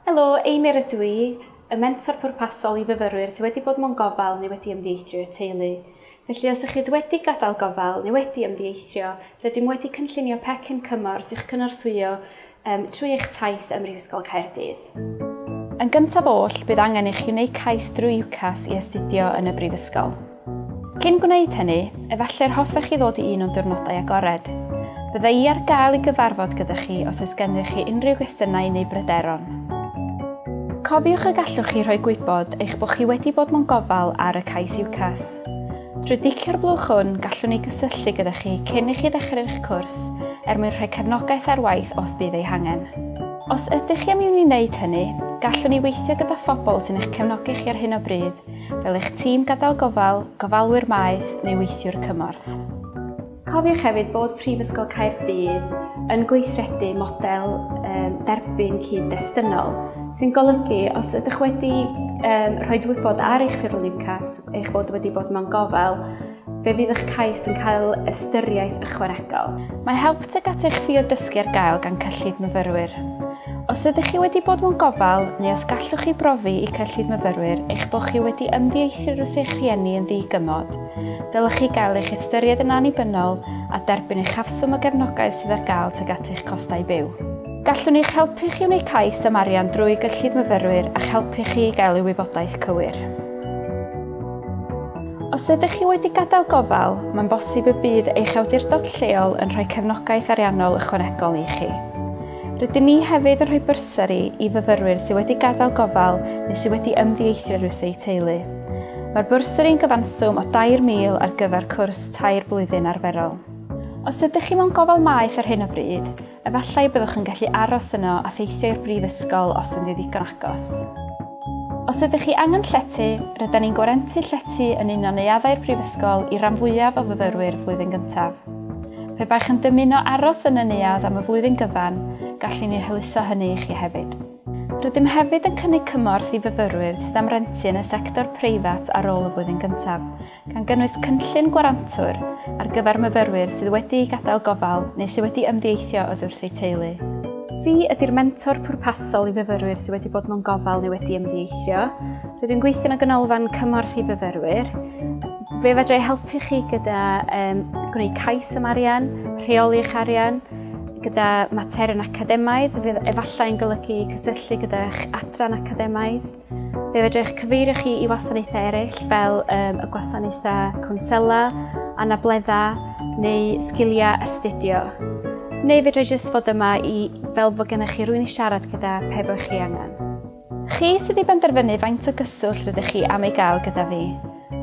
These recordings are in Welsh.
Helo, Einir ydw i, y mentor pwrpasol i fyfyrwyr sydd wedi bod mewn gofal neu wedi ymddieithrio i'r teulu. Felly os ychyd wedi gadael gofal neu wedi ymddieithrio, rydym wedi cynllunio pecyn cymorth i'ch cynorthwyo trwy eich taith ym Mhrifysgol Caerdydd. Yn gyntaf oll, bydd angen i chi wneud cais drwy UCAS i astudio yn y Brifysgol. Cyn gwneud hynny, efallai'r hoffech chi ddod i un o'n diwrnodau agored. Bydda i ar gael i gyfarfod gyda chi os oes gennych chi unrhyw gwestiynau neu bryderon. Cofiwch y gallwch chi rhoi gwybod eich bod chi wedi bod mewn gofal ar y cais UCAS. Drwy dicio'r blwch hwn, gallwn ni gysylltu gyda chi cyn i chi ddechrau'ch cwrs er mwyn rhoi cefnogaeth ar waith os bydd ei hangen. Os ydych chi am i ni wneud hynny, gallwn ni weithio gyda phobl sy'n eich cefnogi chi ar hyn o bryd, fel eich tîm gadael gofal, gofalwyr maeth neu weithiwr cymorth. Cofiwch hefyd bod Prifysgol Caerdydd yn gweithredu model um, derbyn cyd-destynol, sy'n golygu os ydych wedi um, rhoi wybod ar eich ffurflen UCAS eich bod wedi bod mewn gofal, fe fydd eich cais yn cael ystyriaeth ychwanegol. Mae help tuag at eich ffio dysgu ar gael gan cyllid myfyrwyr. Os ydych chi wedi bod mewn gofal, neu os gallwch chi brofi i cyllid myfyrwyr eich bod chi wedi ymddieithr wrth eich rhieni yn ddigymod, Dylech chi gael eich ystyried yn annibynnol a derbyn eich hafswm o gefnogaeth sydd ar gael tuag at eich costau byw. Gallwn eich helpu chi wneud cais am arian drwy gyllid myfyrwyr a'ch helpu chi i gael y wybodaeth cywir. Os ydych chi wedi gadael gofal, mae'n bosib y bydd eich awdurdod lleol yn rhoi cefnogaeth ariannol ychwanegol i chi. Rydyn ni hefyd yn rhoi bursari i fyfyrwyr sydd wedi gadael gofal neu sydd wedi ymddieithrio wrth eu teulu. Mae'r bursari'n gyfanswm o 2,000 ar gyfer cwrs tair blwyddyn arferol. Os ydych chi mewn gofal maeth ar hyn o bryd, efallai y byddwch yn gallu aros yno a theithio i'r brifysgol os ynddi ddigon agos. Os ydych chi angen llety, rydyn ni'n gwarantu llety yn un o neuaddau'r brifysgol i ran fwyaf o fyfyrwyr flwyddyn gyntaf. Pe baech yn dymuno aros yn y neuadd am y flwyddyn gyfan, gallwn ni hwyluso hynny i chi hefyd. Rydym hefyd yn cynnig cymorth i fyfyrwyr sydd am rentu yn y sector preifat ar ôl y flwyddyn gyntaf, gan gynnwys cynllun gwarantwr ar gyfer myfyrwyr sydd wedi gadael gofal neu sydd wedi ymddieithio oddiwrth eu teulu. Fi ydy'r mentor pwrpasol i fyfyrwyr sydd wedi bod mewn gofal neu wedi ymddieithrio. Rydw i'n gweithio yn y Ganolfan Cymorth i Fyfyrwyr. Fe fedra i helpu chi gyda um, gwneud cais am arian, rheoli eich arian, gyda materion academaidd, fe efallai'n golygu cysylltu gyda'ch adran academaidd. Fe fedra eich cyfeirio chi i wasanaethau eraill fel um, y gwasanaethau cwnsela, anableddau neu sgiliau astudio. Neu fedra i jyst fod yma i fel fod gennych chi rwy'n i siarad gyda pe bod chi angen. Chi sydd i benderfynu faint o gyswllt rydych chi am ei gael gyda fi.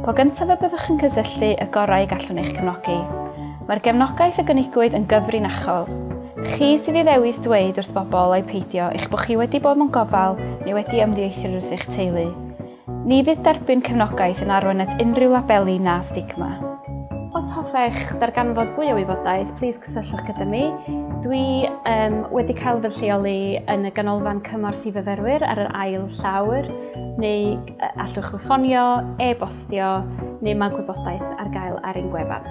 Po gyntaf y byddwch yn cysylltu, y gorau y gallwn eich cefnogi. Mae'r gefnogaeth a gynigwyd yn gyfrinachol. Chi sydd i ddewis dweud wrth bobl ai peidio eich bod chi wedi bod mewn gofal neu wedi ymddieithr wrth eich teulu. Ni fydd derbyn cefnogaeth yn arwain at unrhyw labeli na stigma. Os hoffech ddarganfod fwy o wybodaeth, plîs cysylltwch gyda mi. Dwi um, wedi cael fy lleoli yn y ganolfan cymorth i fyfyrwyr ar yr ail llawr, neu allwch chi ffonio, e-bostio, neu mae gwybodaeth ar gael ar ein gwefan.